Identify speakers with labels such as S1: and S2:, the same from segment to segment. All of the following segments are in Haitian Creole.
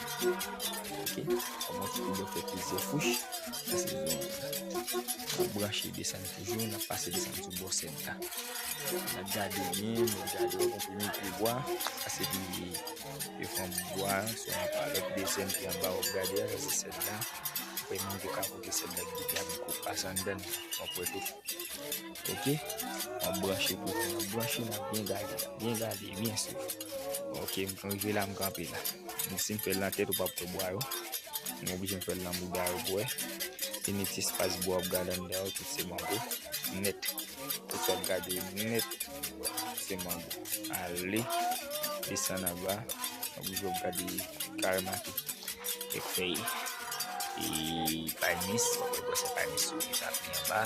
S1: Ok, kòman ki pou bò fè plizyè kouch, sa se yon pou branche desann toujou, nan pase desann sou bò sèt la. Nan gade byen, nan gade yon pou mwen pou bwa, sa se pou mwen yon fòm bwa, sou yon palèk desann ki yon bawon gade, sa se sèt la. Mwen mwen te kapote sèt la, ki te yon koupas an dèn, mwen pwè tout. Ok, map branche pou nou. Map branche nap byen gade, byen gade, byen sou. Ok, m fon rive la m kanpe la. M si m fè l nan tèt ou pap wè bwa yo. M oblije m fè l nan bouda yo pou wè. Fini ti espas bwa wap gade anndan yo tout se mango. Nèt. Tout sa wap gade yo nèt se mango. Ale, desann anba, wap oubli wap gade kareman ki kèk fèy. E pay mis, wap wè se pay mis yo ki ta pli anba.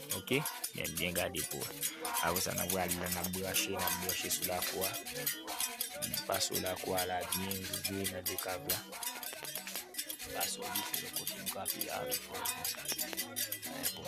S1: Ok, men byen gade pou wè. Apre sa nan pral la nan branche, nan branche sou la kwa. Nan paso la kwa la byen rive nan de kab la. Paso li pou lè kote nou kape a. Bon.